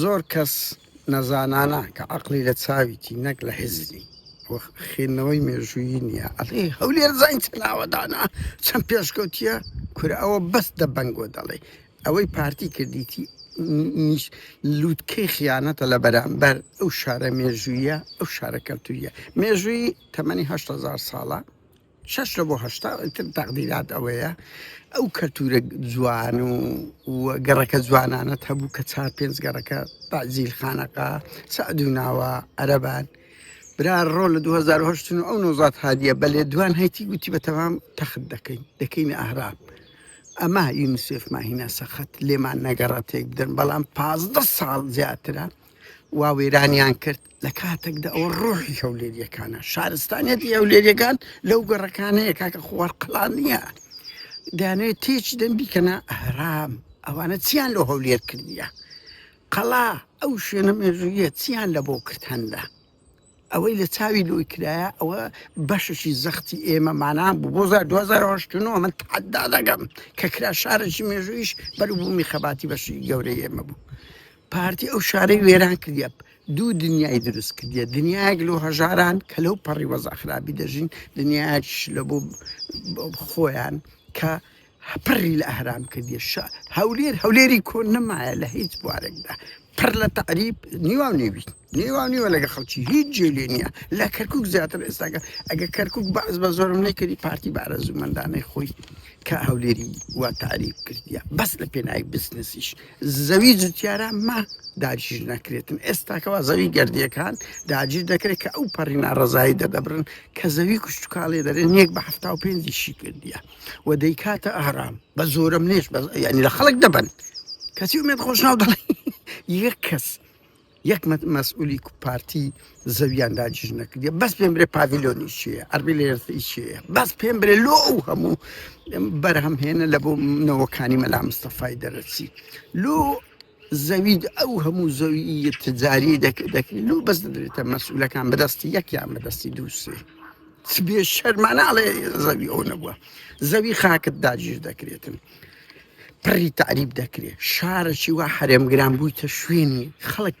زۆر کەس نەزانانە کە عەقڵی لە چاویتی نەک لە هزری و خوێندنەوەی مێژوویی نییە ئەڵێ هەولێر زین چەند ئاوەدانە چەند پێشکەوتییە کورە ئەوە بەس دەبەنگۆ دەڵێی ئەوەی پارتی کردیتی نیش لووتکەی خیانەتە لە بەرامبەر ئەو شارە مێژوویە ئەو شارە کەلتوریە مێژووی تەمەنی هەشت هەزار ساڵە شەش لە بۆ هەشتا تر تەقدیرات ئەوەیە ئەو کەلتورە جوان و و گەڕەکە جوانانەت هەبوو کە چار پێنج گەڕەکە تازیل خانەقا سعد و ناوە عەرەبان برا ڕۆ لە 2010 و ئەو نۆزات هادیە بەلێ دوان هەیتی گوتی بە تەمام تەخت دەکەین دەکەین ئەهراب ئەما یونسێف ماهینا سەخت لێمان نەگەڕە تێک بدەن بەڵام پازدە ساڵ زیاترە وا وێرانیان کرد لە کاتێکدا ئەوە ڕۆحی هەولێریەکانە شارستانیەتی هەولێریەکان لەو گەڕەکانەیە کاکە خوار قلان نییە دانێ تێچ دەم بیکەنە ئەهرام ئەوانە چیان لۆ هەولێر کردیە قەڵا ئەو شوێنە مێژوویە چیان لە بۆ کرد هەندە ئەوەی لە چاوی لۆی کرایە ئەوە بەشەشی زەختی ئێمە مانا بوو بۆ زار 2009 من تحدا دەگەم کە کرا شارێکی مێژوویش بەر بوومی خەباتی بەشی گەورەی ئێمە بوو پارتی ئەو شارەی وێران کردە دوو دنیای دروست کردە دنیایەک لۆ هەژاران کە لەو پەڕی وەزاخرابی دەژین دنیاش لە بۆ خۆیان کە پڕی لە ئەهرام کردیە شا هەولێر هەولێری کۆن نەمایە لە هیچ بوارێکدا پڕ لە تەعریب نیوا و نێوی نیوا نیوە لەگە خەڵکی هیچ جێ لێ نییە لە کەرکک زیاتر ئێستاگە ئەگە کەرکک باز بە زۆرم نەکردی پارتی بارە زوومەندانەی خۆی کە هەولێری وا تعریب کردیە بەس لە پێناوی بزنسیش زەوی جوتیارە ما داگیر نەکرێتن ئێستاکەوا زەوی گردیەکان داگیر دەکرێت کە ئەو پەڕی ناڕزایی دەدەبرن کە زەوی کوشتتوکاڵێ دەرێن یەک بە هەفتا و پێنجیشی کردیە و دەیکاتە ئارام بە زۆرە منێش ینی لە خەڵک دەبن کەسی ومێت خۆش ناو دەڵێ یەک کەس یەک مەسئولی پارتی زەویان داجیش نەکردی بەس پێم برێ پاڤیلۆنی چیە ئەربی لێرسی چیە بەس پێم برێ لۆ ئەو هەموو بەرهەمهێنە لە بۆ منەوەکانی مەلا مستەفای دەرەچی لۆ زەوی ئەو هەموو زەویی تجاری دەکرێت لۆ بەس دەدرێتە مەسولەکان بەدەستی یەکیان بەدەستی دووسێ بێ شەرمانناڵێ زەوی ئەو نەبووە زەوی خاکت داگیر دەکرێتن پڕی تعریب دەکرێت شارەی وا حرێمگران بوویتە شوێنی خەڵک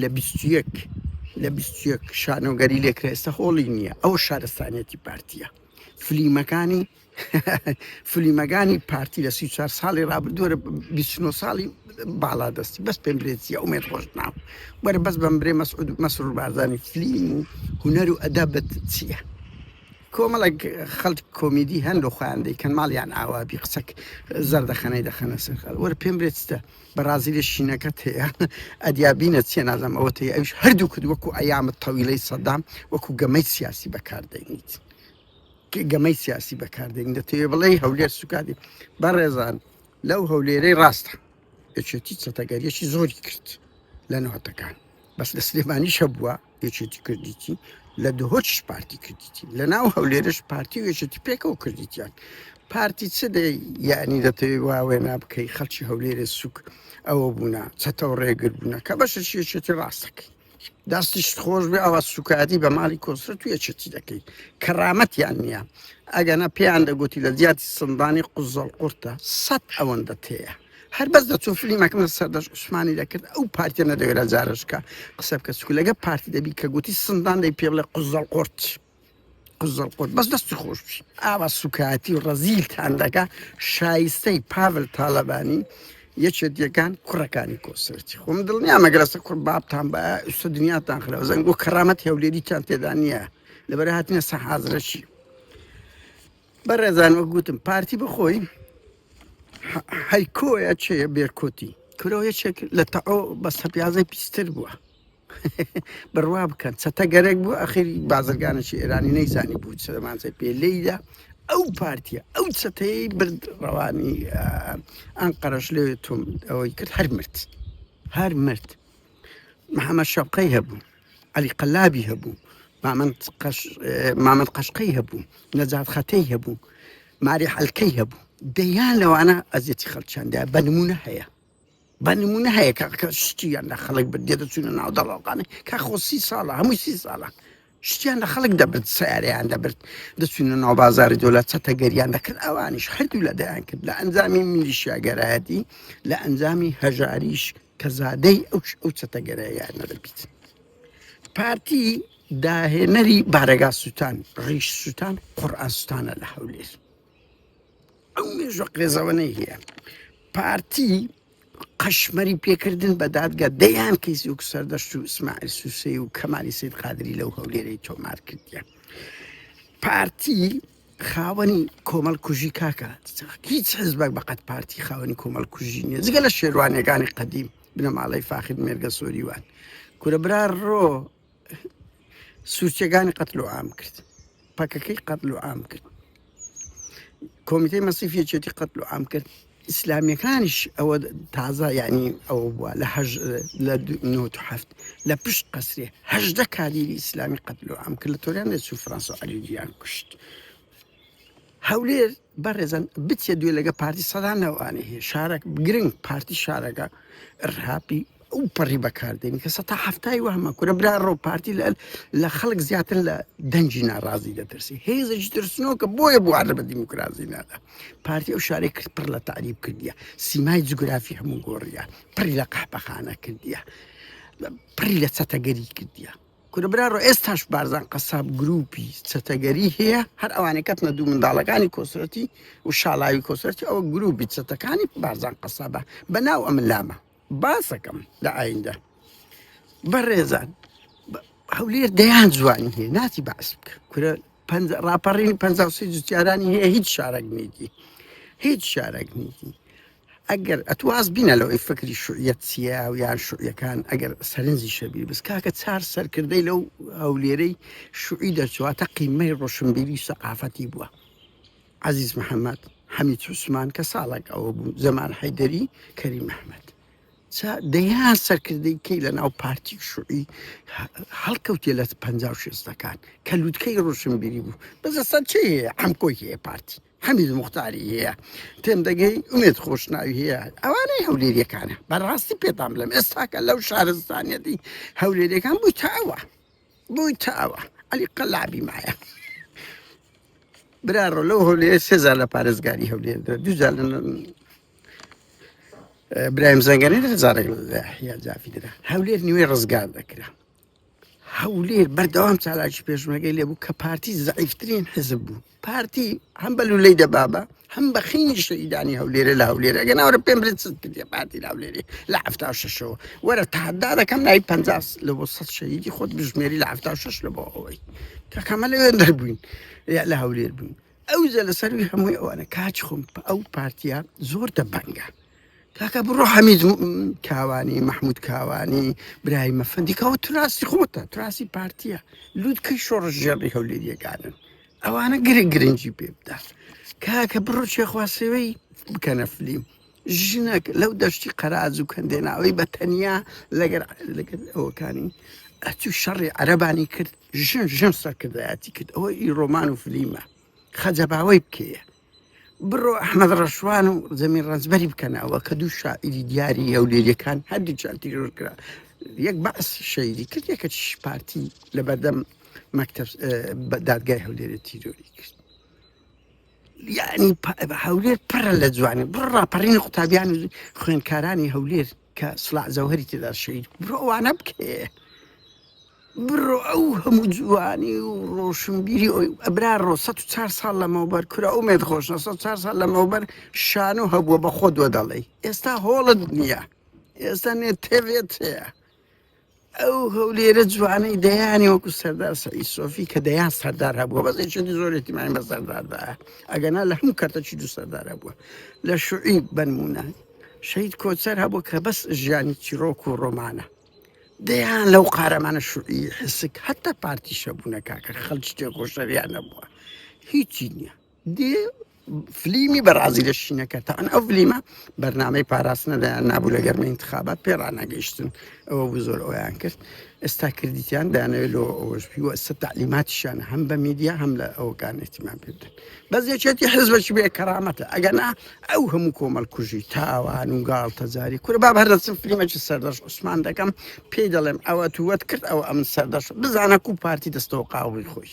لە بیست و یەک لە بیست و یەک شانۆگەری لێکرا ئێستا هۆڵی نییە ئەوە شارستانیەتی پارتیە فلیمەکانی فلیمەکانی پارتی لە سی چوار ساڵی رابردووە بیچنۆ ساڵی باڵا دەستی بەس پێم برێتیە ئومێت خۆش ناو وەرە بەس بەم برێ مەسعود مەسرور بارزانانی فلیم و هوەر و ئەدابەت چییە کۆمەڵک خەڵک کۆمیدی هەن لە خۆیان دەیکەن ماڵیان ئاوابی قسەک زەردەخەنەی دەخەنە سەر خەڵ وەرە پێم برێتە بەڕازیلیش شینەکەت هەیە ئەدیا بینە چیە نازم ئەوە تەیە ئەوش هەردوو کرد وەکو ئەیامە تەویلەی سەدام وەکو گەمەی سیاسی بەکاردەینیت گەمەی سیاسی بەکاردەین دەتەوێ بڵێ هەولێر سوکادی بەڕێزان لەو هەولێرەی ڕاستە یەکێتی چەتەگەریەکی زۆری کرد لە نەوەتەکان بەس لە سلێمانیشە بووە یەکێتی کردیتی لە دهۆچش پارتی کردیتی لە ناو هەولێرش پارتی و یەکێتی پێکەوە کردیتیان پارتی چ دێ یعنی دەتەوێ واوێ نابکەی خەڵکی هەولێرە سوک ئەوە بوونا چەتەوە ڕێگر بوونە کە بەشە شێشێتی ڕاستەکەی دەستیش خۆش بێ ئەوە سوکاتی بە ماڵی کۆسرە تو یەکێتی دەکەی کەڕامەتیان نییە ئەگەنا پێیان دەگوتی لە زیاتی سندانی قوزەڵ قورتە سەد ئەوەندە تەیە هەر بەس دەچوو فلیمەکەم لە سەردەش عوسمانی دەکرد ئەو پارتیە نەدەوێرە جارشکە قسە بکە سکو لەگە پارتی دەبی کە گوتی سندان دەی پێ بڵێ قزەڵ قرت قزەڵ قرت بەس دەستی خۆش بی ئاوا سوکایەتی و ڕەزیلتان دەکە شایستەی پاڤل تاالبانی یەکێت یەکان کوڕەکانی کۆسەرتی خۆم دڵنیا مەگەرەسە کوڕ بابتان بە ئوسە دنیاتان خراوە زەنگ بۆ کەرامەت هەولێریتان تێدا نییە لەبەر هاتنە سە حازرەشی بەڕێزان وەک گوتم پارتی بخۆی ح- هەیکۆیە چێ بێرکۆتی کرۆ یەکێک لە تەعۆ بە سەپیازە پیستر بووە بڕوا بکەن چەتە گەرەک بوو ئەخیری بازرگانێکی ئێرانی نەیزانی بوو سلمانزای پێ لێیدا ئەو پارتیە ئەو چەتەی برد ڕەوانی ئەم قەرش لێ تۆم ئەوەی کرد هەر مرد هەر مرد محەممەد شەوقەی هەبوو عەلی قەلابی هەبوو، مامەند قەشقەی هەبوو، نەجات خەتەی هەبوو، ماری حەلکەی هەبوو، دەیان لەوانە ئەزیەتی خەڵکیان دا، بە نموونە هەیە. بە نموونە هەیە کە شتیان لە خەڵک بردیە دەچوونە ناو دەڵاڵخانە، کە خۆ سی ساڵە هەمووی سی ساڵە شتیان لە خەڵک دەبرد، سەیارەیان دەبرد، دەچوونە ناو بازاری دۆلات چەتەگەریان دەکرد، ئەوانیش هەردوو لە دەیان کرد لە ئەنجامی میلیشیاگەرایەتی، لە ئەنجامی هەژاریی. کە زادەی ئەو ئەو چەتەگەرایانە دەبیت پارتی داهێنەری بارەگا سووتان ڕیش سووتان قڕئاستانە لە هەولێر ئەو مێژە قێزەوەەی هەیە پارتی قەشمەری پێکردن بە دادگە دەیان کەیسی و سەردەشت و ئسماعل سووسی و کەمالی سید قادری لەو هەولێرەی تۆمار کردیان پارتی خاوەنی کۆمەڵ کوژی کاکە هیچ حزبەک بەقەت پارتی خاوەنی کۆمەڵ کوژی نیە جگە لە شێروانەکانی قەدیم بنەماڵەی فاخر مێرگە سۆریوان کورە برا ڕۆ سوچەکانی قەتل و ئام کرد پەکەکەی قەتل و ئام کرد کۆمیتەی مەسیفیەتی قەتل و ئام کرد ئیسلامیەکانیش ئەوە تازە یانی ئەوە بووە لە هەژ لە نۆت هەفت لە پشت قەسرێ هەژدە کادیری ئیسلامی قەتلو ئەم کرد لە تۆریان لە سو فرانس و علیجیان کوشت هەولێر بەڕێزن بچێ دوێ لەگە پارتی سەدانەوەوانێ هەیە شارەک گرنگ پارتی شارەکە ڕهاپی ئەو پەڕی بەکاردێنی کە سەتا حەفتای وەهمە کورە برا ڕۆ پارتی لە لە خەڵک زیاتر لە دەنجی ناڕازی دەترسی هێزش ترسنۆکە بۆیە بوارە بە دیموکراسی نادا پارتی ئەو شارێک کرد پڕ لە تعریب کردیە سیمای جوگرافی هەموو گۆڕیە پڕی لە قەحپەخانە کردیە پڕی لە چەتەگەری کردیە کورە برا ڕۆ ئێستاش بارزان قەساب گروپی چەتەگەری هەیە هەر ئەوانەی کەتنە دوو منداڵەکانی کۆسرەتی و شاڵاوی کۆسرەتی ئەو گروپی چەتەکانی بارزان قەسابە بە ناو ئەم لامە باسەکەم لە ئایندە بەڕێزان هەولێر دەیان جوانی هەیە ناتی باس بکە کورە ڕاپەڕینی پ جوتیارانی هەیە هیچ شارەک نیتی هیچ شارەک نیتی ئەگەر ئەتواز بینە لەوەی فکری شوعەت چیە و یان شوعەکان ئەگەر سەرنجی شەبی بس کاکە چار سەرکردەی لەو هەولێرەی شوعی دەرچواتە قیمەی ڕۆشنبیری سەقافەتی بووە عەزیز محەمەد، حەمید عوسمان، کە ساڵێک ئەوە بوو، جەمال حەیدەری، کەریم ئەحمەد. جا دەیان سەرکردەی کەی لە ناو پارتی و شوعی هەڵکەوتێ لە پەنجا و شێستەکان، کە لووتکەی ڕۆشنبیری بوو. بەس ئێستا چێ هەیە؟ عەمکۆی هەیە پارتی، حەمید موختاری هەیە، تێم دەگەی، ئومێد خۆشناوی هەیە، ئەوانەی هەولێرییەکانە. بەڕاستی پێتان بڵێم ئێستاکە لەو شارستانیەتی هەولێرییەکان بوویتە ئەوە. بوی تا ئەوە علی قەلابی مایە برا ڕۆ لەو هەولێ سێزار لە پارێزگاری هەولێ دوجار برایم زەنگەنی هزارێک یا جافی درا هەولێر نیوێ ڕزگار دەکرا هەولێر بەردەوام چالاکی پێشمەگەی لێبوو کە پارتی زعیفترین حزب بوو پارتی هەم بە لولەی دەبابە هەم بە خینی شەهیدانی هەولێرە لە هەولێر ئەگە ناوەرە پێم برێت چت کردە پارتی لاولێری لە هەفتا شەشەوە وەرە تادا دەکەم نای پ لە بۆ سە شەهیدی خۆت بژمێری لە هەفتا شش لە بۆ ئەوەی کەکەمە لە وێن دەربووین لە هەولێر بووین ئەو جە لە سەروی هەمووی ئەوانە کاچ خۆم ئەو پارتیا زۆر دەبەنگە کاکە بڕۆ حەمید کاوانی مەحمود کاوانی برای مەفەندی کاوە تراسی خۆتە تراسی پارتیە لووتکەی شۆڕش ژێڕی هەولێریەکانن ئەوانە گرە گرنگی پێ بدات کاکە بڕۆ چێخواسەوەی بکەنە فلیم ژنەک لەو دەشتی قەراز و کەندێناوەی بە تەنیا لەگەر لەگەر ئەوەکانی ئەتو شەڕی عەربانی کرد ژن ژن سەرکردایەتی کرد ئەوە ئی ڕۆمان و فلیمە خەجەباوەی بکەیە بڕۆ ئەحمەد ڕەشوان و زەمین ڕەنجبەری بکەنەوە کە دوو شاعیری دیاری هەولێریەکان هەردووچان تیرۆر کرا یەک بەعس شەیدی کرد یەکە چش پارتی لە بەردەم مەکتب بە دادگای هەولێرە تیرۆری کرد یعنی هەولێر پڕە لە جوانی بڕ ڕاپەڕینی قوتابیان و خوێندکارانی هەولێر کە سڵاح جەوهەری تێدا شەهید بوو بڕۆ ئەوانە بکەیێ بڕۆ ئەو هەموو جوانی و ڕۆشنبیری ئەوی ئەبرا ڕۆ 104 ساڵ لەمەوبەر کورە ئەو مێت خۆش 4 ساڵ لەمەوبەر شان و هەبووە بە خۆ دووە دەڵێ ئێستا هۆڵت نییە ئێستا نێت تێوێت هەیە ئەو هەولێرە جوانەی دەیانی وەکو سەردار سەعی سۆفی کە دەیان سەردار هەبووە بەس چێتی زۆرێتی مای بە سەرداردا ئەگەنا لە هەموو کەرتەچی دوو سەردار هەبووە لە شوعی بنمونە شەید کۆچەر هەبوو کە بەس ژیانی چیرۆک و ڕۆمانە دەیان لەو قارەمانە شوعی حسک هەتا پارتیشە بوونە کاکە خەلچ تێکۆشەریان نەبووە هیچی نییە دێ فلیمی بەڕازی لە شینەکە تاان ئەو فلیمە بەرنمەی پاراستنە دەیان نابوو لە گەرمە انتخابات پێ ڕناگەیشتن ئەوە بوو زۆر ئەویان کرد ئێستا کردیان دانەوێت لۆ ئەوەشبی وە سە تعلیماتیشان هەم بە میدیا هەم لە ئەوکان احتیمان پێ بدەن بەس یەکێتی حزبەش بێ کەرامەتە ئەگەنا ئەو هەموو کۆمەل کوژی تاوان و گاڵ تەجاری کورە با هەردەچم فلیمەکی سەردەش عوسمان دەکەم پێی دەڵێم ئەوە تووەت کرد ئەو ئەم سەردەش بزانە کو پارتی دەستەوە قاوی خۆش